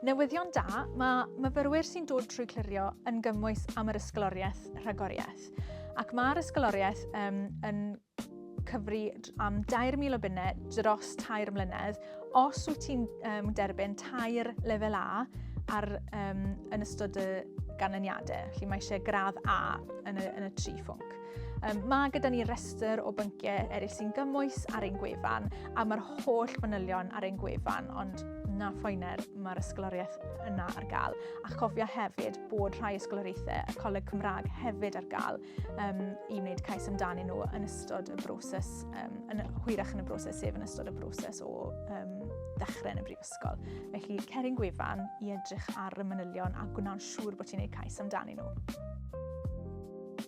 Newyddion da, mae myfyrwyr sy'n dod trwy clirio yn gymwys am yr ysgoloriaeth rhagoriaeth. Ac mae'r ysgoloriaeth um, yn cyfri am 2,000 o bunnau dros tair mlynedd. Os wyt ti'n um, derbyn tair lefel A ar, um, yn ystod y ganlyniadau, felly mae eisiau gradd A yn y, yn y tri phwnc. Um, mae gyda ni restr o bynciau eraill sy'n gymwys ar ein gwefan a mae'r holl fanylion ar ein gwefan, ond na phoener mae'r ysgoloriaeth yna ar gael. A chofia hefyd bod rhai ysgoloriaethau y Coleg Cymraeg hefyd ar gael um, i wneud cais amdani nhw yn ystod y broses, um, yn, hwyrach yn y broses, sef yn ystod y broses o um, ddechrau yn y brifysgol. Felly, cerin gwefan i edrych ar y manylion a gwna'n siŵr bod ti'n gwneud cais amdani nhw.